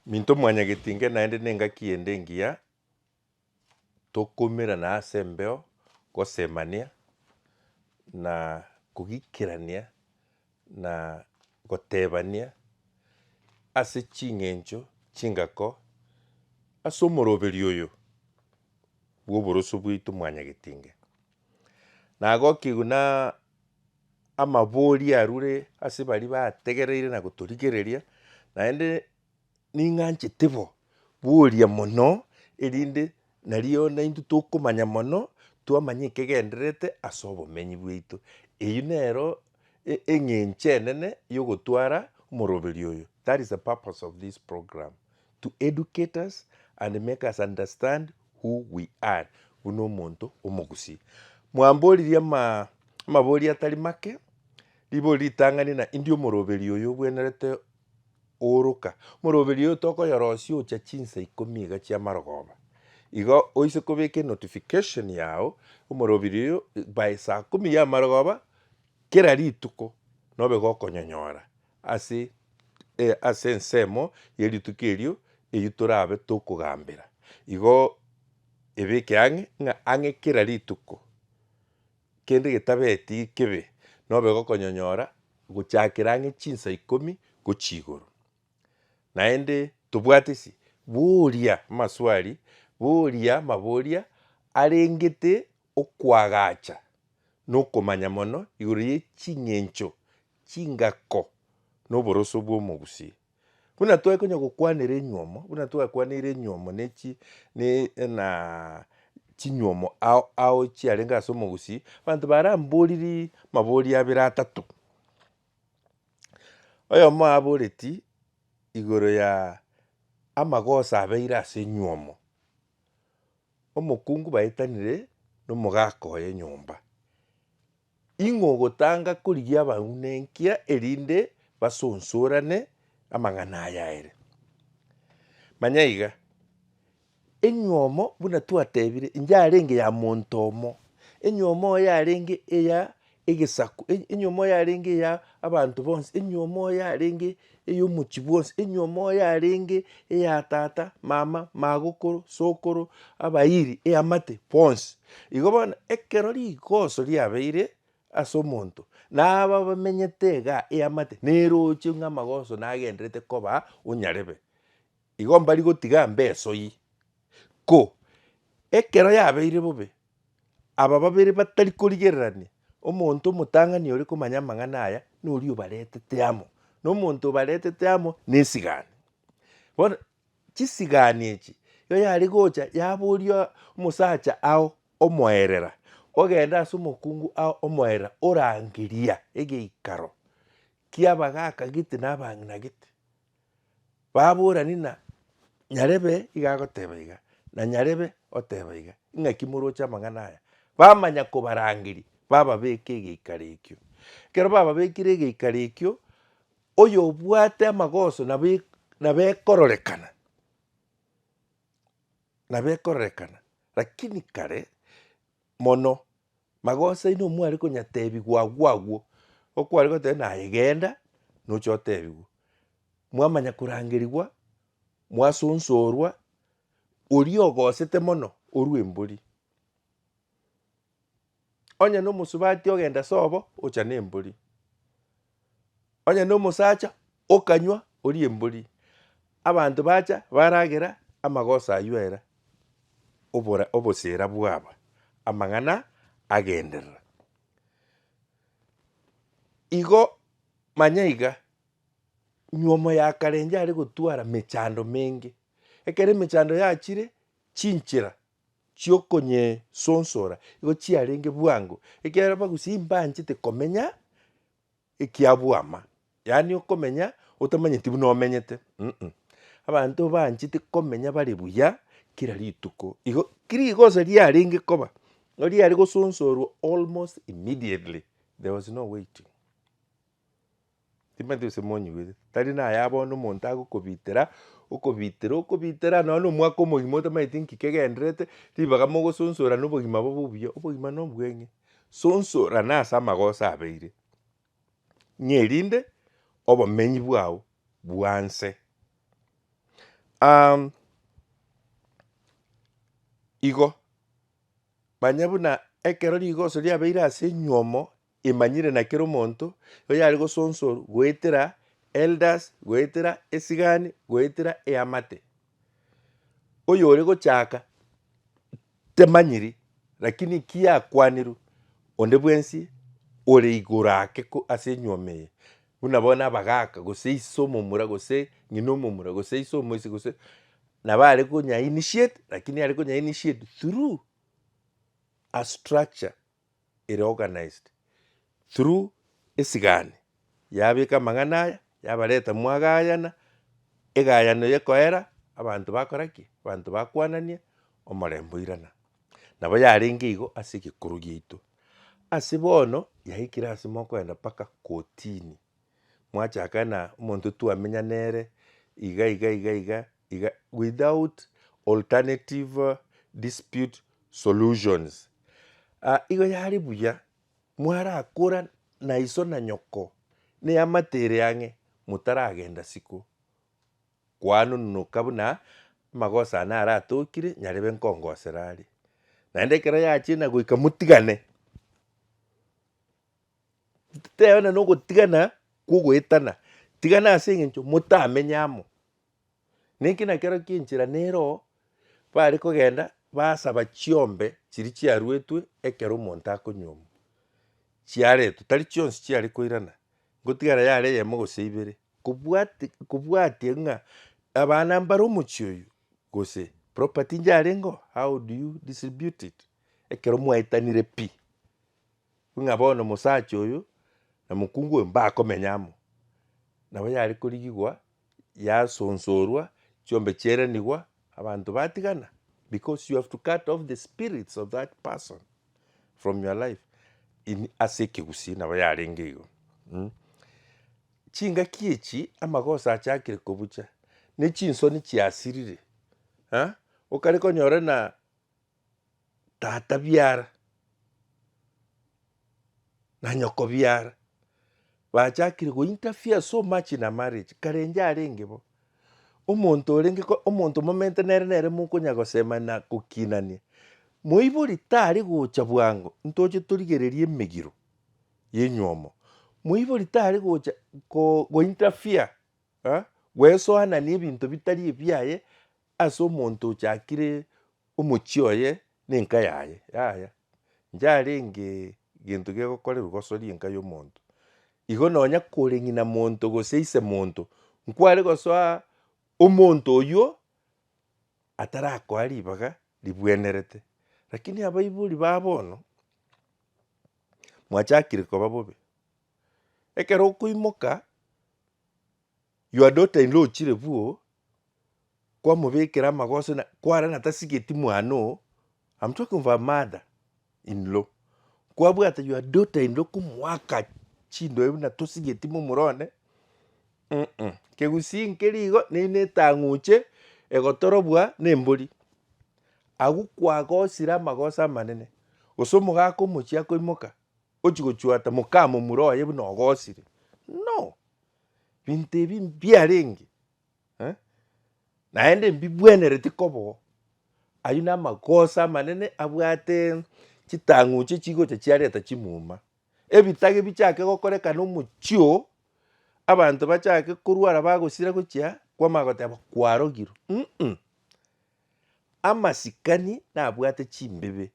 Minto mwanyageti inga naende nengaki ende engiya tokomerana ase embeo, gosemania, na kogikerania, na gotebania ase ching'encho chingako ase omoroberio oyo bw'oboroso bwaito mwanyageti inga. Na goki buna amabori arure ase baria bategereire na gotorigereria, naende ning'anchete bo, boria mono, erinde nario naintwe tokomanya mono, twamanya ekegendererete ase obomenyi bwaito. Eyio nero e- eng'encho enene ya ogotwara omoroberio oyo, that is the purpose of this program, To educate us and make us understand who we are buna omonto omogusii. Mwamboririe amabori atari make, ribori ritang'ani na indi omoroberi oyo obwenerete ooroka. Omoroberi oyo tokoyorosia ocha chinsa ikomi iga chi'amarogoba. Igo oise kobeka enotification yao omoroberi oyo by saa kumi y'amarogoba kera rituko nobe gokonyonyora. Ase, ee, ase ensemo ye rituko erio eyio torabe tokogambera. Igo ebeke ang'e ng'a ang'e kera rituko kende getabeti kebe nobe gokonyonyora gochakera ang'e chinsa ikomi gochia igoro. Naende tobwate si, boria maswali, boria amaboria arengete okoagacha na okomanya mono igoro ye ching'encho chingako na oboroso bw'omogusi. Buna tware konya gokwanera enywomo, buna twakwaneire enywomo ne chi ne na chinywomo ao ao chiarenge ase omogusi, abanto baramboririe mabori abere atato. Oyomo aboreti igoro ya amagoso abeire ase enywomo, omokungu baetanire na omogaka oye nyomba. Ing'o ogotanga korigia abang'u nenkia erinde basonsorane amang'ana aya aere? Manya iga, Enywomo, buna twatebire, inche arenge ya monto omo, enywomo oye arenge eya egesaku, enywomo oye arenge eya abanto bonsi, enywomo oye arenge Ey'omochie bwonsi, enyomo yarenge eya tata, mama, magokoro, sokoro, abairi, eamate, bonsi. Igo bono ekero rigoso riabeire ase omonto, na aba bamenyete igaa eamate neroche ng'a amagoso nagenderete koba onyarebe. Igo mbari gotiga mbesoi, ko ekero yabeire bobe, aba babere batari korigererania, omonto omotang'ani ore komanya amang'ana aya, noria obaretete amo, na omonto obaretete amo nesigani. Bono chisigani echi, nigo yare gocha yaboria omosacha ao omoerera, ogenda ase omokungu ao omoerera, orangeria egeikaro ki'abagaka gete na abang'ina gete, Baborani na Nyarebe iga agoteba iga, na Nyarebe oteba iga, ing'aki moroche amang'ana aya? Bamanya kobarangeria, bababeka egeikaro ekio. Ekero bababekire egeikaro ekio, oyobwate amagoso nabo nabo ekororekana, nabo ekororekana. Lakini kare, mono, magoso aino omware konyateebigwa agwo agwo, okware goteebwa naye genda, nocha oteebigwe. Mwamanya korangerigwa, mwasunsorwa, oria ogosete mono orue embori. Onye nomosubati ogenda sobo, ocha nembori. Onye nomosacha okanywa orie embori, abanto bacha baragera amagoso ayio ere obora obosera bwaba amang'ana agenderera. Igo manya iga, nywomo ya kare enjare gotwara mechando menge. Ekero emechando yachire chinchera. chi'okonyesonsora igo chiarenge bwango, ekiagera bagusia imbanchete komenya ekia bwama, yaani okomenya otamanyeti buna omenyete um. Abanto banchete komenya bare buya kera rituko, igo rigoso riarenge koba nigo riare gosonsorwa almost immediately there was no waiting. Timanyeti gose monyigwete, tari naye abone omonto agokobitera, okobitera, okobitera nonya na omwaka omogima otamanyeti nki kegendererete, ribaga mogososorana obogima bobe obuya, obogima na obweng'e. Sonsorana ase amagosa abeire, ng'a erinde obomenyi bwao bwanse igo, manya buna ekero rigoso riabeire ase enyiomo, Emanyire na kera omonto oyare gosonsor goetera elders goetera esigani goetera eamate. Oyore gochaka temanyiri lakini kiakwaneru onde bwensi ore igoro ake ase enyuoma eye buna bono abagaka gose ise omomura gose ng'ina omomura gose ise omoisi gose nabo are konya initiate lakini are konya initiate through a structure. ere organized through esigani yabeka amang'ana aya yabareta mwagayana, egayano yekoera abanto bakora ki? Abanto bakwanania omorembe oirana. Nabo yarenge igo ase egekuru giaito. Ase bono yaikire ase mokoenda mpaka kotini. mwachaka na omonto twamenya nere iga iga iga iga iga without alternative dispute solutions. Igo yare buya mwarakora na iso na nyoko neamate ere ang'e motaragenda isiko kwanonoka buna amagoso ane aratokire nyarebe nkongosera are naende ekero yachina goika motigane. Titebana nogotigana kwogoetana, tigana ase eng'encho motamenye amo. Nenki nakero ki enchera nero bare kogenda basaba chiombe chiri chiaruetwe ekero omonto akonyuomwa, chiaretwe tari chionsi chiare koirana, ngotigara yare eyemo gose ibere kobwati- kobwatia ng'a abana mbare omochie oyio gose property inche yarenge oo, how do you distribute it ekero mwaetanire pi. Ng'a bono omosacha oyo na mokungu oyo mbakomenya amo. Nabo yare korigigwa yasoonsorwa, chiombe chiaeranigwa, abanto batigana, because you have to cut off the spirits of that person from your life in ase ekegusii nabo yarenge igo mm. Chingaki echi amagoso achakire kobucha, ne chinsoni chiasirire, ha? okare konyora ng'a. tata biara na nyoko biara bachakire gointerfere so much in a marriage karenje arenge bo. Omonto orenge ko- omonto momente nere nere mokonya gosema na gokinania. Moibori tari gocha bwango ntoche torigererie emegiro ya enywomo. Moibori tari gocha ko- gointerfere eh, gwesoanania ebinto bitari ebiaye Ase omonto ochakire omochie oye nenka yaye, yaya, njarenge gento gegokorerwa gosoria enka yomonto. Igo nonya kore ng'ina monto gose ise monto, nkware gosoa omonto oywo atarakoa ribaga ribwenerete. Rakini abaibori ba bono, mwachakire koba bobe, ekero okoimoka. You are not in law chire buo kwamobekera amagoso na kware na tasigeti mwana oo I'm talking of a mother in law kwabwate your daughter in law komoaka chindo ebi na tosigeti momura one uh-uh kegusii nkeri igo neri ne etang'uche egotorobwa ne embori agwo kwagosire amagoso amanene gose omogaka omochia koimoka ochia gochuata moka momura oye buna ogosire no. Ebinto ebi mbiarenge eh, naende mbibwenereti koba oo. Ayio namagoso amanene abwate chitang'uche echigocha chiareta chimuma. Ebitage bichake gokorekana omochie oo, abanto bachake korwara bagosira gochia kwamanya goteba kwarogirwe uh-uh. Amasikani nabwate chimbibe,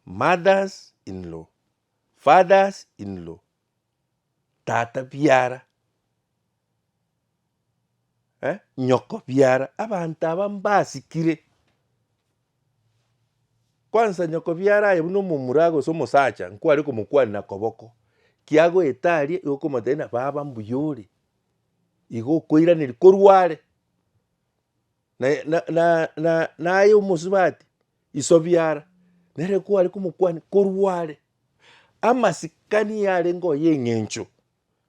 mothers in law, fathers in law, tata biara, eh, nyoko biara, abanto aba mbasikire. Kwansa nyoko biara aye buna omomura aye gose omosacha nkware komokwanera koboko, kiagoeta aria igo okomotebia buna baba mbuya ore, igo okoiraneria korwa are. Na naye omosubati iso biara, nere kware komokwania korwa are, amasikani yarenge oye eng'encho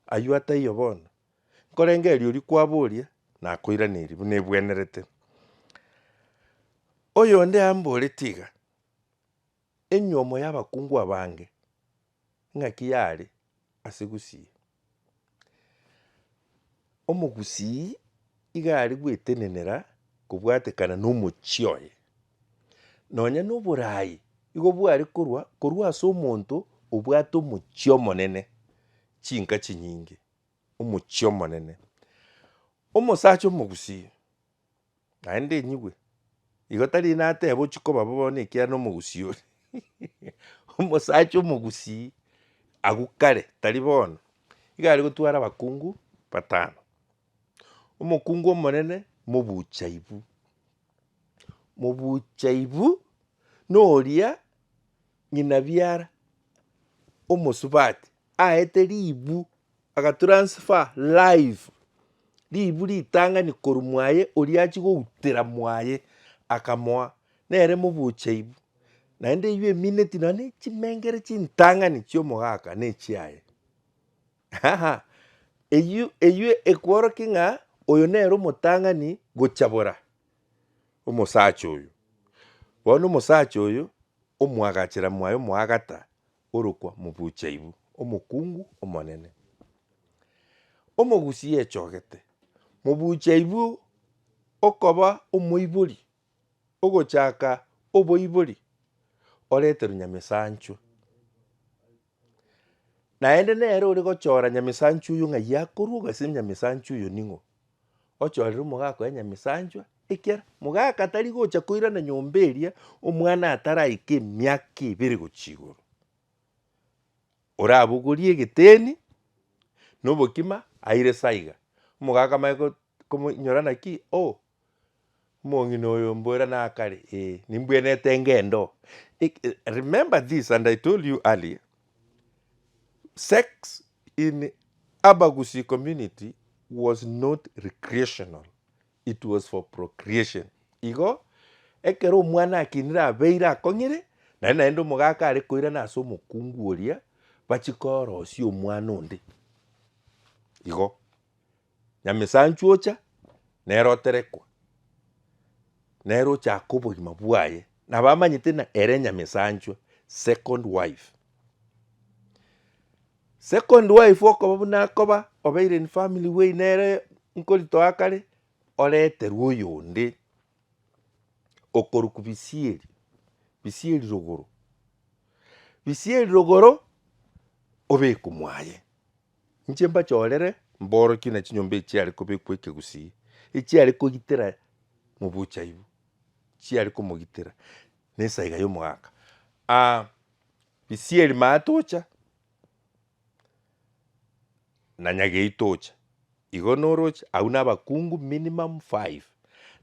aywo ataiyo bono, nkorenge erio rikwabo oria nakoiraneria buna ebwenerete. Oyonde amborete iga, enyomo y'abakungu abange Ing'aki yare ase gusii. Omogusii iga are gwetenenera kobwatekana nomochie oye. Nonya na oboraai igo bware korwa korwa ase omonto obwate omochie omonene chinka chinyinge, omochie omonene. Omosacha omogusii. naende enyigwe. Igo tari nateba ochie koba bobe bono ekiagera na omogusii ore omosacha omogusii agwo kare tari bono. Iga aria gotwara abakungu batano, omokungu omonene mobuchaibu, mobuchaibu noria ng'ina biara omosubati. aete ribu agatransfer live ribu ritang'ani korwa mwaye oria achie goutera mwaye akamoa nere mobucha ibu naende eywo emineti nonya na chimengere chintang'ani chi'omogaka na echiaye haha eywo eywo ekworokia ng'a oyo nere omotang'ani gochabora omosacha oyo. Bono omosacha oyo omwagachera mwaye omoagata orokwa Mobuchaibu, omokungu omonene. Omogusi yechogete Mobuchaibu okoba omoibori ogochaka oboibori oreterwe Nyamesanchwe. Naende nere ore gochora Nyamesanchwe oyo ng'ai akorwa ogasira Nyamesanchwe oyo ning'o. ochorere omogaka oye Nyamisanchwa, ekiara mogaka tari gocha koirana nyomba eria omwana ataraika emiaka ebere gochia igoro. Orabogorie egeteni na obokima aire saa iga, omogaka amanye komoinyora naki, oh Omong'ina oyo mbwera nakare, ee, nimbwenete ngendo. Remember this and I told you earlier, sex in Abagusii community was not recreational, it was for procreation. Igo ekero omwana akinire abeire akong'ire, nari naende omogaka are koirana ase omokungu oria, bachikoorosia omwana onde. Igo. Nyamesanchwo ocha nere oterekwa, nere ochaka obogima bwaye, nabo amanyete ng'a ere Nyamesanchwa, second wife. Second wife okoba buna akoba obeire in family way nere nkoritoa kare, oreterwe oyonde okorokwa bisieri, bisieri rogoro, bisieri rogoro obekwa mwaye. Inche mbachorere mborokie na chinyomba echiare kobekwa ekegusii, echiare kogitera mobuchaibu, chiare komogitera na esaiga ya omogaka. Aa Bisieri maya tocha, na Nyagei tocha, igo noroche, aywo na abakungu minimum five,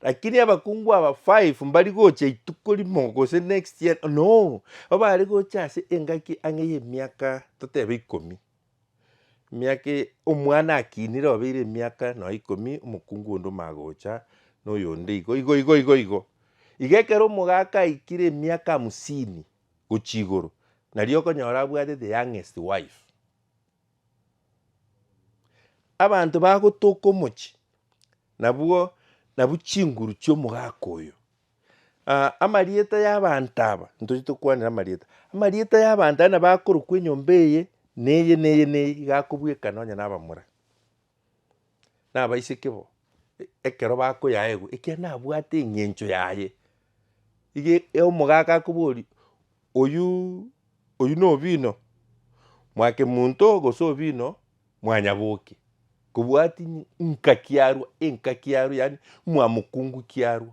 lakini abakungu aba five mbari gocha rituko rimo gose next year, no, nigo bare gocha ase engaki ang'e ya emiaka totebe ikomi. Emiaka eye omwana akinire obeire emiaka nonya ikomi omokungu onde omagocha na oyonde igo igo igo igo igo. Iga ekero omogaka aikire emiaka hamsini gochia igoro nario okonyora abwate the youngest wife. Abanto bagotoka omochie nabwo nabwo chinguru chiomogaka oyo Aa, amarieta y'abaanto aba, ntoche tokwanere amarieta, amarieta y'abaanto aya nabo akorokwa enyomba eye, na eye, na eye, na eye, iga akobwekana onye na abamura, na abaiseke bo, e- ekero bakoyaegwa, ekiagera nabwate eng'encho yaye. Iga e- omogaka akoboria, oyuuuu oywo na obino, mwake monto, gose obino. Mwanyaboke, kobwati nka kiarwa, enka kiarwa, yaani mwamokungu kiarwa.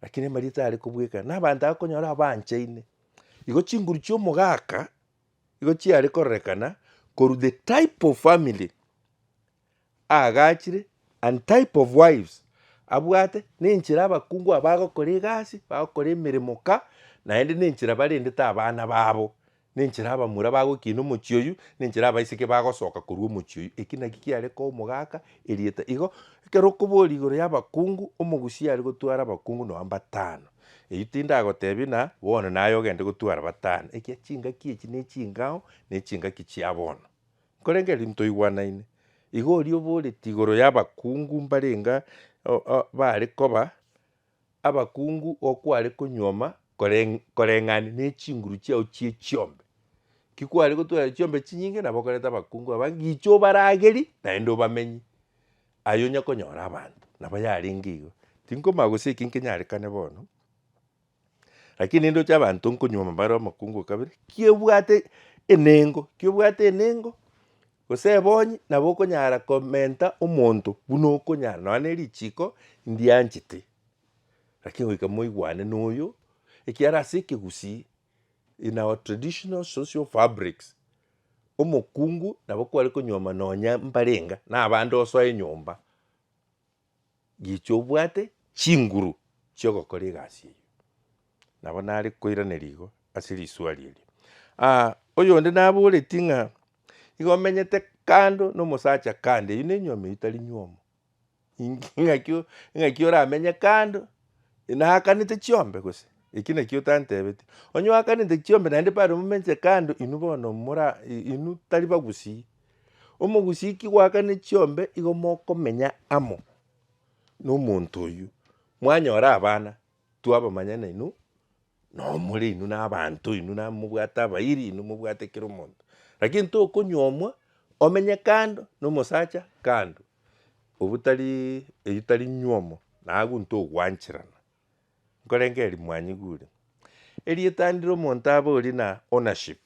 Lakini amarita are kobwekana, na abanto akonyora abanchaine. Igo chinguru chi'omogaka, igo chiare kororekana, korwa the type of family, aagachire, and type of wives abwate, ne enchera abakungu aba bagokora egasi, bagokora emeremo ka, naende ne enchera barendete abana babo, ne enchera abamura bagokina omochie oyio, ne enchera abaiseke bagosoka korwa omochie oyio. Eki naki kiare koa omogaka erieta igo, ekero okoboria igoro ya abakungu, omogusii are gotwara abakungu nonya mbatano, eyio tindagotebi na bono naye ogende gotwara batano, ekiya chingaki echi ne chingao, ne chingaki chia bono. Korende eri ntoigwanaine, iga oria oboreti igoro y'abakungu mbarenga baare koba abakungu okware konyuoma koreng'ana ne chinguru chiao chie chiombe. Ki kware gotwara chiombe chinyinge nabo okorete abakungu aba ngicho obarageri naende obamenye aye onya konyora abanto nabo yarenge igo. Tinkomanya gose eki nkenyarekane bono. Lakini nindoche abanto nkonyuoma bare omokungu o kabere, ki obwate enengo, ki obwate enengo, gose ebonyi nabo okonyara komenta omonto buna okonyara nonya ne richiko ndianchete, lakini goika moigwane na oyo, ekiagera ase ekegusii in our traditional social fabrics, omokungu nabo kware konyuoma nonya mbarenga, na abande osoa enyomba. gichia obwate chinguru chi'ogokora egasi eyio. Nabo nare koiraneria igo ase risuari erio. Aa oyonde naboretie ng'a igo omenyete kando na omosacha kando eyio nenyiomi eyio tari nyiomo inki ng'akio ng'aki oramenye kando naakanete chiombe gose? Eki nakio otantebeti. Onye oakanete chiombe naende bado momenche kando inwe bono mora inwe tari bagusii. Omogusiki goakane chiombe igo mokomenya amo nomonto oyio, mwanyora abana twabamanya nainwe noo more inwe na abanto inwe na mobwate abairi inwe mobwate kera omonto. Lakini tokonywomwa omenye kando na omosacha kando obu tarii eyi tari nywomo na agwo ntogwancherana nkorenge erimwanyi gure. Erieta ndire omonto abe ori na ownership.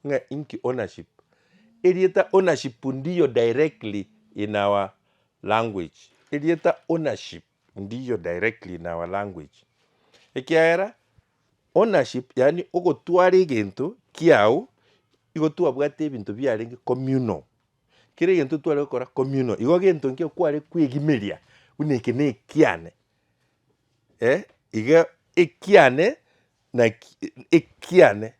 Ng'a inki ownership? Erieta ownership ndiyo directly in our language, erieta ownership ndiyo directly in our language, ekiagera ownership yaani ogotwara egento kiao, igo twabwate ebinto biarenge communal, kera egento tware gokora communal, igo egento ekio kware kwegimeria buna eke nekiane eh, iga ekiane naki ekiane.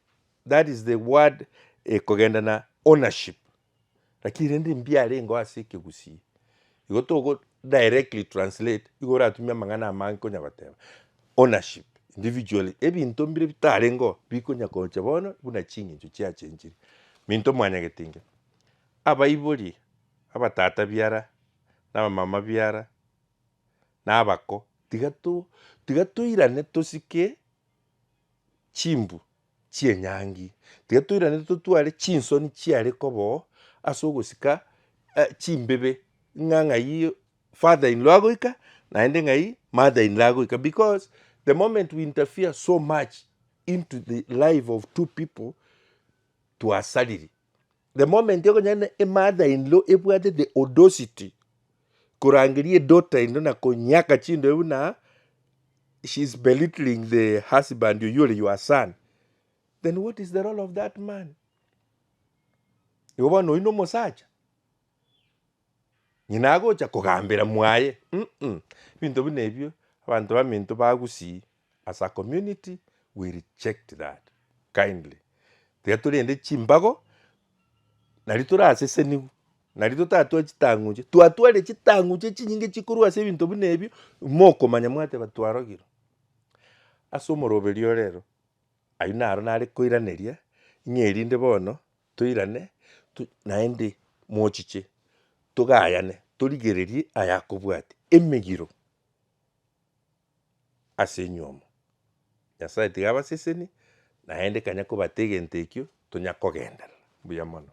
That is the word ekogenda na ownership lakini rende mbiarengeo ase ekegusii. Igo togo directly translate igo oratumie amang'ana amange konya goteba ownership individually ebinto mbire bitarengeo bikonya kocha bono buna ching'encho chiachenchire. Minto mwanyagete inga abaibori, abatata biara, na abamama biara, na abako tiga to tiga toirane tosike chimbu chi'enyangi, tiga toiranerie totware chinsoni chiare koba oo ase ogosika chimbibe ng'a ng'ai father in law agoika naende ng'ai mother in law agoika because the moment we interfere so much into the life of two people twasariri. the moment ekonyana emother in law ebwate the audacity korangeria edaughter in law na konyaka chindoe buna she is belittling the husband oyio ore your son then what is the role of that man igo bono oyio nomosacha nyina agocha kogambera mwaye mm ebinto buna ebio abanto baminto bagusii as a community we reject that kindly tiga torende chimbago nario tore asesenigu nario totatwa chitang'uche twatwarire chitang'uche chinyinge chikorwa ase ebinto buna ebio mokomanya mwateba twarogirwe ase omoroberi ore ero ayio naro nare koiraneria ng'a erinde bono toirane tu naende mochiche togayane torigererie ayakobwati emegiro. as'enywe omo. Nyasaye tiga abasesenie, naende kanya kobate egento ekio, tonya kogenderera. Mbuya mono.